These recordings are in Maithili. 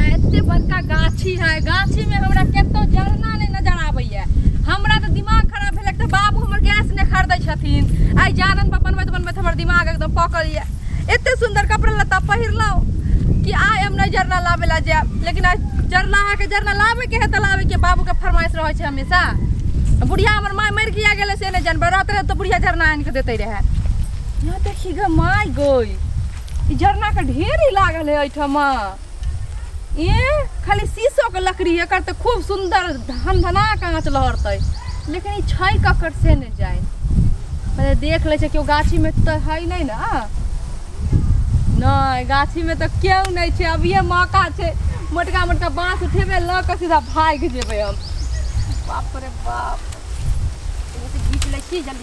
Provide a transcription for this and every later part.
गाछी है गाछी में हमरा केतो जरना नहीं नजर आवे है हमरा तो दिमाग खराब भेल तो बाबू हमर गैस ने खरीदे छथिन आई जारन पर बनबैत बनबैत हमर दिमाग एकदम पकल ये एते सुंदर कपड़ा लता पहिरलौ कि आय हम नहीं जरना लावे ला जाब लेकिन आज जरना है के जरना लावे के है त लावे के बाबू के फरमाइश रहे छै हमेशा बुढ़िया हमर माय मर किया गेले से नहीं जानबे रहत रहे तो बुढ़िया जरना आन के देते रहे यहाँ देखी गे माय गोई ई झरना के ढेरी लागल है एहिठाम ए खाली शीशो के लकड़ी एकर तऽ खूब सुंदर धन धना काँच लहरतै लेकिन ई छै ककर से नहि जाय पहिले देख लै छै केओ गाछी में तऽ है नहि ने नहि गाछी में तऽ केओ नहि छै अभिये मौका छै मोटका मोटका बाँस उठेबै लऽ कऽ सीधा भागि जेबै हम बाप रे बाप एगो तऽ घीच लै छी जल्दी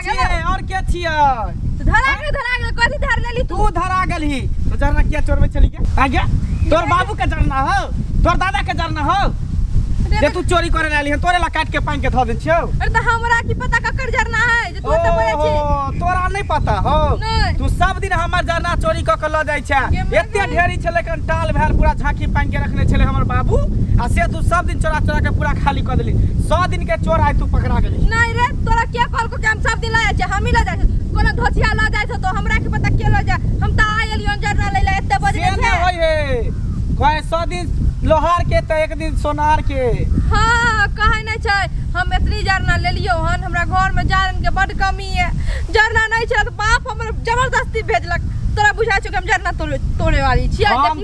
छियै और के छियै धरा गेल धरा गेल कथी धर लेली तू तू धरा गेलही तो जरना किया चोरबै छली के आगे तोर बाबू के जरना हो तोर दादा के जरना हो अरे जे तू चोरी करे लाली है तोरे ला काट के पांग के धो दे छियो अरे तो हमरा की पता ककर जरना है जे तू तो बोले छी ओहो, तोरा नहीं पता हो नहीं। तू सब दिन हमर जरना चोरी क के ल जाय छे ये मर एते गई। ढेरी छले कन टाल भैल पूरा झांकी पांग के रखने छले हमर बाबू आ से तू सब दिन चोरा चोरा के पूरा खाली क देली 100 दिन के चोर आइ तू पकड़ा गेली नहीं रे तोरा के कॉल को के हम सब दिन लाए छे हम ही ले जाए कोनो धोतिया ला जाए तो हमरा के पता के ले जाए हम त आ गेलियो जरना ले ले एते बजे से न छे होय हे कहे सौ दिन लोहार के तो एक दिन सोनार के हां कहे नहीं छे हम इतनी जरना ले लियो हन हमरा घर में जारन के बड कमी है जरना नहीं छे तो बाप हमर जबरदस्ती भेजलक तोरा बुझा छो कि हम जरना तोड़े तोड़े वाली छिया हम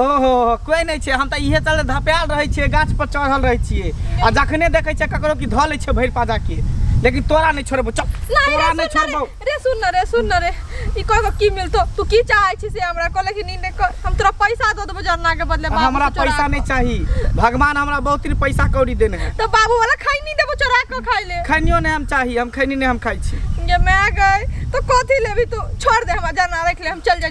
ओहो कोई नहीं छे हम तो इहे चल धपायल रहे छे गाछ पर चढ़ल रहे छे आ जखने देखे छे ककरो की धले छे भर पाजा के लेकिन तोरा नहीं छोड़बो चल तोरा नहीं छोड़बो रे सुन न रे सुन न रे ई कह की मिलतो तू की चाहे छी से हमरा को लेकिन नींद कर हम तोरा पैसा दो देबो जरना के बदले बाबू हमरा पैसा नहीं चाहिए भगवान हमरा बहुत ही पैसा कौड़ी देने है तो बाबू वाला खाई नहीं देबो चोरा के खाई ले खनियो नहीं हम चाहिए हम खनी नहीं हम खाई छी ये मैं गई तो कथी लेबी तू छोड़ दे हम जरना रख ले हम चल जाए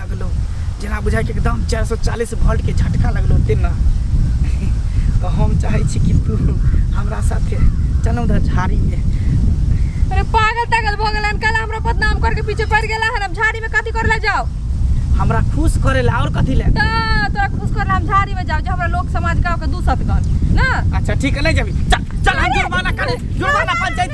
लगलो जेना बुझाइ कि एकदम चारि सए चालीस वोल्टके झटका लगलो तेना तऽ हम चाहै छी कि तू हमरा साथे चलू तऽ झाड़ीमे अरे पागल तागल भऽ गेलन कल हमरा बदनाम करके पीछे पड़ गेला हन हम झाड़ी में कथी कर ले जाओ हमरा खुश करे ला और कथी ले त तोरा खुश कर हम झाड़ी में जाओ जो हमरा लोक समाज गांव के दू सतगन ना अच्छा ठीक है ले जाबी चल चल हम जुर्माना करे जुर्माना पंचायत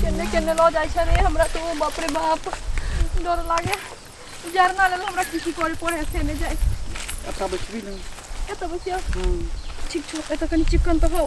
केन्ने केन्ने लऽ जाइ छै रे हमरा तऽ ओ बाप रे बाप डर लागे जरना लेल हमरा किछु करे पड़े से नहि जाइ अच्छा बचबी ने एतऽ बसिया ठीक छौ एतऽ कनि चिकन तऽ हो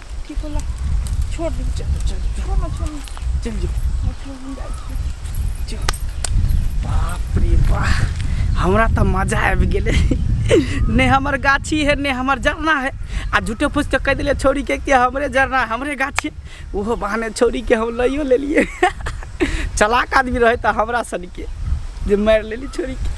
ठीक होला छोड़ दे चल चल छोड़ ना छोड़ चल जो बाप रे वाह हमरा तो मजा आबि गेलै ने हमर गाछी है ने हमर जरना है आ झूठे फूस तो कह दिले छोड़ी के कि हमरे जरना हमरे गाछी ओहो बहाने छोड़ी के हम लइयो लेलिए चलाक आदमी रहे तो हमरा सन के जे मारि लेली छोड़ी के